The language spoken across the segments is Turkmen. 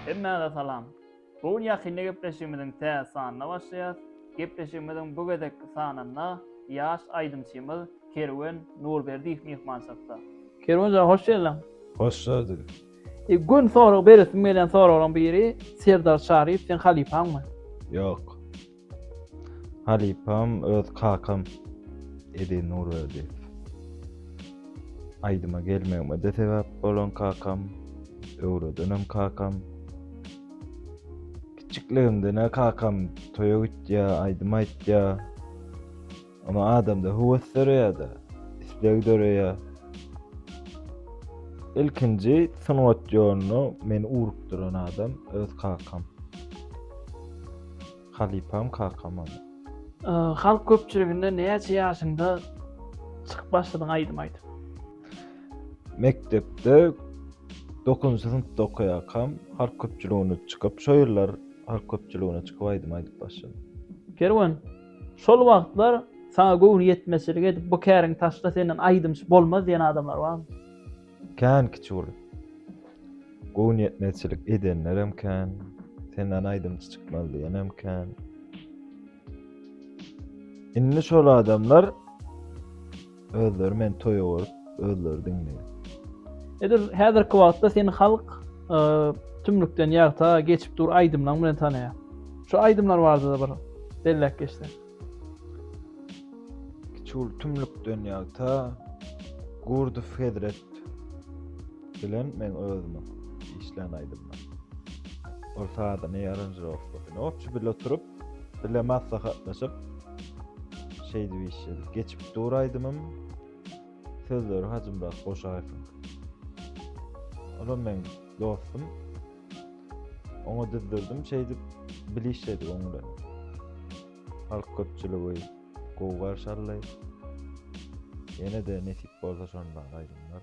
Hemmäňize salam. Bu gün ýakynda gepleşigimiziň täze sanyna başlaýas. Gepleşigimiziň bu gezekki sanynda ýaş aýdymçymyz Kerwen Nurberdiýew myhmançylykda. Kerwen jan hoş geldiň. Hoş gördük. E, gün sorag beresim gelýän soraglaryň biri Serdar Çaryýew sen halypaňmy? Ýok. Halypam öz kakam Edi Nurberdiýew. Aýdyma gelmegime-de sebäp bolan kakam, öwredenem kakam. Kiçikligimden-ä kakam toýa gitýär, aýdym aýtýar. Emma adamda höwes döreýär-de, isleg döreýär. Ilkinji sungat ýoluna meni ugrukdyran adam öz kakam. Halypam kakam ol. Halk köpçüliginde näçe ýaşyňda çykyp başladyň aýdym aýdyp? Mekdepde dokuzynjy synpda okaýarkam halk köpçüligine çykyp, şo ýyllar halk köpçüligine çykyp aýdym aýdyp başladym. Kerwen, Şol wagtlar saňa göwni ýetmezçilik edip, bu käriňi taşla, senden aýdymçy bolmaz diýen adamlar barmy? Kän kiçi bolup, göwni ýetmezçilik edenlerem kän, senden aýdymçy çykmaz diýenem kän. Indi şol adamlar. Özleri meni toýa görüp, özleri diňleýär. Edil häzirki wagtda seni halk e, tümlükden ýagta geçip dur aýdymlaryň bilen tanaýar. Şu aýdymlar barada bir belläp geçsen. Kiçul tümlükden ýagta Gurdow Hezret bilen men özümiň işlän aýdymlar. Ol sazyny aranžirowkasyny opçy bil oturup Bile maslahatlaşyp şeýdip işledik. Geçip dur aýdymym. Sözleri Hajymyrat Goşaýewiň. Olam men dostum. Oňa düzdürdim şeýdip bile işledik oň bilen. Halk köpçüligi gowy garşy aldy. Ýene-de nesip bolsa şondan aýdymlar.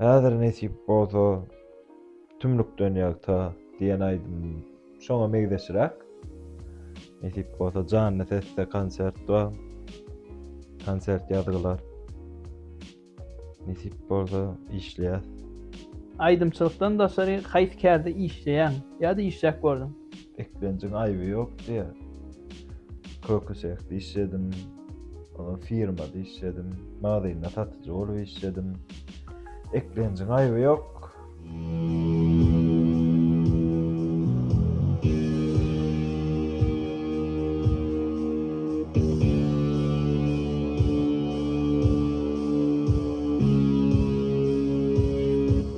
Häzir nesip bolsa Tümlükden ýagta diýen aýdym şoňa meňzeşräk. Nesip bolsa janly sesde konsert bar. Konsert ýazgylar. Nesip bolsa işleýäs. Aýdymçylykdan daşary haýsy kärde işleýäň ýa-da işläp gördüň? eklenjiň aýby ýok diýýär. Köküsehde işledim, ondan firmada işledim, magazynda satyjy bolup işledim. Eklenjiň aýby ýok.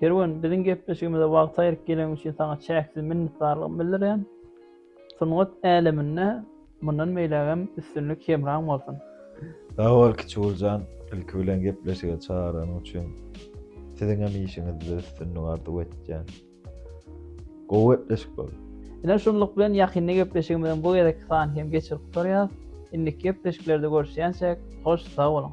Her gün biziň gepleşigimize wagt aýryp geleň üçin saňa çäksiz minnetdarlygymy bildirýän. Sungat äleminde mundan beýlägem üstünlik hemraň bolsun. Sag bol Kiçuguljan, ilki bilen gepleşige çagyranyň üçin siziňem işiňizde üstünlik arzuw etýän. Gowy gepleşik boldy. Ine şunluk bilen ýakynda gepleşigimiziň bu gezekki sany hem geçirip gutarýas. Indiki gepleşiklerde görüşýänçäk hoş sag boluň.